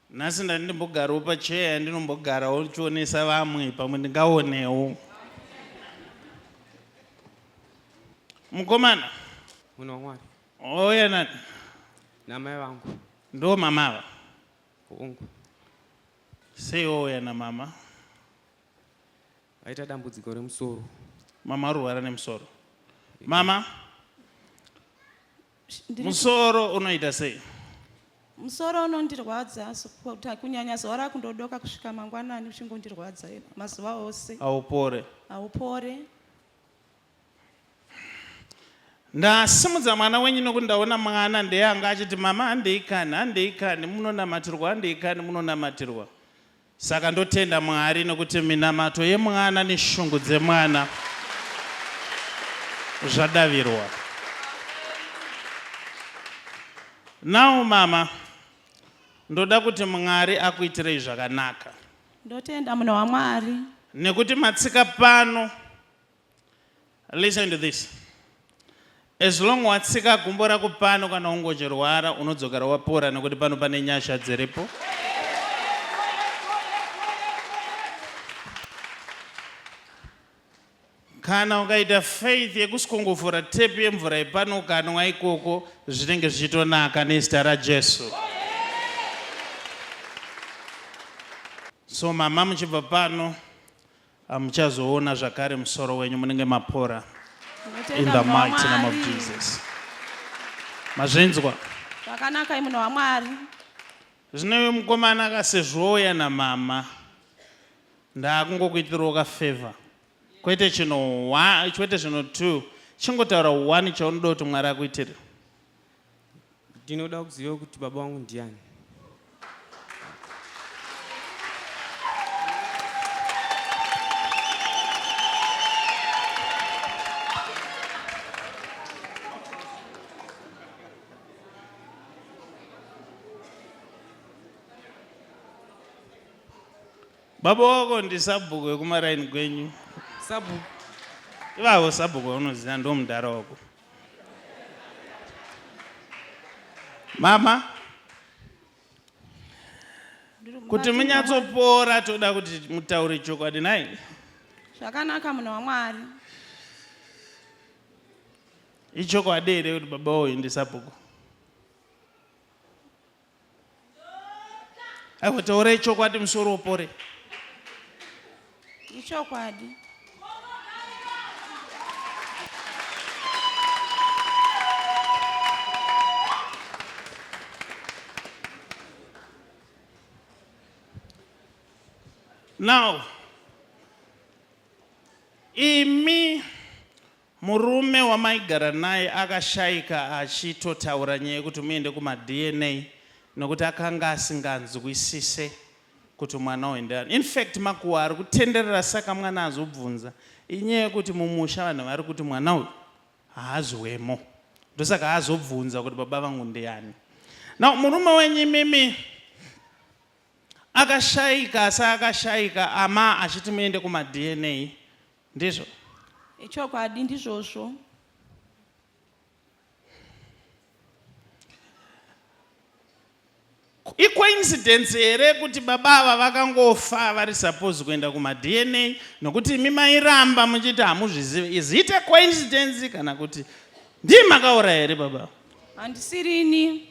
Nhasi ndati ndimbogarawo pacheya yandinombogarawo ndichionesa vamwe pamwe ndingaonewo. Mukomana. Munhu waMwari. Ouya nani? Namai vangu. Ndo mama ava? Hungu. Sei ouya namama? Aita dambudziko remusoro. Mama arwara nemusoro. Mama. musoro unoita sei musoro unondirwadza kunyanya zuva rakundodoka kusvika mangwanani uchingondirwadza mazuva ose haupore haupore ndasimudza mwana wenyu nokuti ndaona mwana ndeyanga achiti mama handei kani handei kani munonamatirwa handei kani munonamatirwa Saka ndotenda Mwari nokuti minamato yemwana neshungu dzemwana zvadavirwa. Now mama ndoda kuti Mwari akuitirei zvakanaka. Ndotenda munhu waMwari. Nekuti matsika pano. Listen to this. As long watsika gumbo rako pano kana ungochirwara unodzokera wapora nekuti pano pane nyasha dziripo. Kana ukaita faith yekusukunguvhura tap yemvura yepano ukanwa ikoko zvinenge zvichitonaka nezita raJesu. So mama muchibva pano Hamuchazoona zvakare musoro wenyu munenge mapora. In the mighty name of Jesus. Mazvinzwa? Zvakanaka munhu waMwari. Zvino uyu mukomana akasezvouya namama ndakungokuitirawo kafavor kwete chino kwete zvino two chingotaura one chaunoda kuti mwari akuitire ndinoda kuziva kuti baba wangu ndiani baba wako ndisabhuku wekumaraini kwenyu sabhuku ivavo sabhuku vaunoziva ndomudhara wako mama kuti munyatsopora toda kuti mutaure chokwadi nai zvakanaka munhu wamwari ichokwadi here kuti baba woendesa bhuku aiwa taura ichokwadi musoro upore ichokwadi now imi Murume wamaigara naye akashaika achitotaura nyaya yekuti muende kumaDNA nokuti akanga asinganzwisise kuti mwana uyu ndeani. In fact makuhwa ari kutenderera saka mwana azobvunza inyaya yekuti mumusha vanhu vari kuti mwana uyu haazi wemo ndosaka azobvunza kuti baba vangu ndiani. Now murume wenyu imimi akashaika asi akashaika ama achiti muende kumaDNA Ndizvo. Ichokwadi ndizvozvo. icoincidence here kuti baba ava vakangofa vari suppose kuenda kumadna nokuti imi mairamba muchiti hamuzvizive is it a coincidence kana kuti ndii makauraya here baba handisirini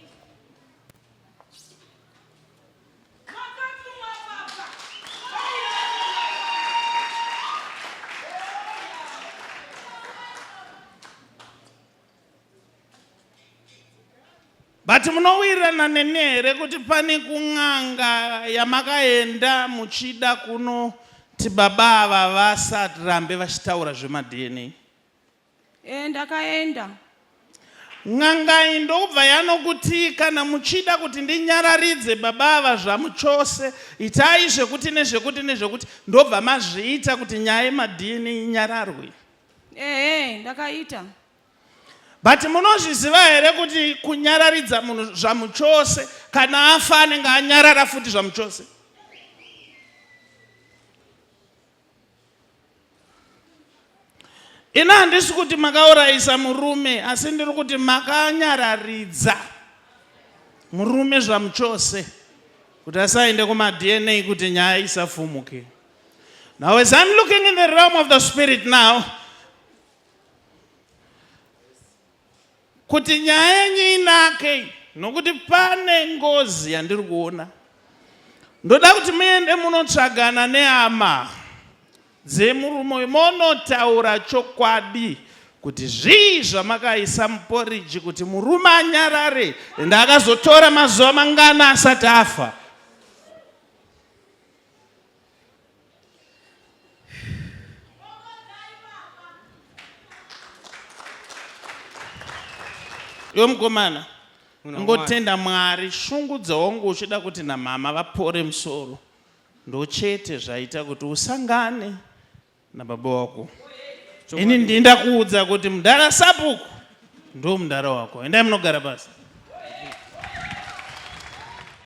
but munowirirana neni here kuti pane kun'anga yamakaenda muchida kunoti baba ava vasarambe vachitaura zvemadna Eh, ndakaenda. N'anga iyi ndokubva yanokuti kana muchida kuti ndinyararidze baba ava zvamuchose itai zvekuti nezvekuti nezvekuti ndobva mazviita kuti nyaya yemadna inyararwe Ehe, ndakaita. but munozviziva here kuti kunyararidza munhu zvamuchose kana afa anenge anyarara futi zvamuchose Ini handisi kuti makaurayisa murume asi ndiri kuti makanyararidza murume zvamuchose kuti asaende kumaDNA kuti nyaya isafumuke. Now as I'm looking in the realm of the spirit now, kuti nyaya yenyu inake nokuti pane ngozi yandiri kuona ndoda kuti muende munotsvagana neama dzemurume uyu monotaura chokwadi kuti zvii zvamakaisa muporiji kuti murume anyarare ende akazotora mazuva mangana asati afa Yo mkomana ngotenda mwari shungu dzawangu uchida kuti namama vapore musoro ndochete zvaita kuti usangane nababa wako ini ndinda kuudza kuti mudhara sapuku ndo mudhara wako endai munogara pasi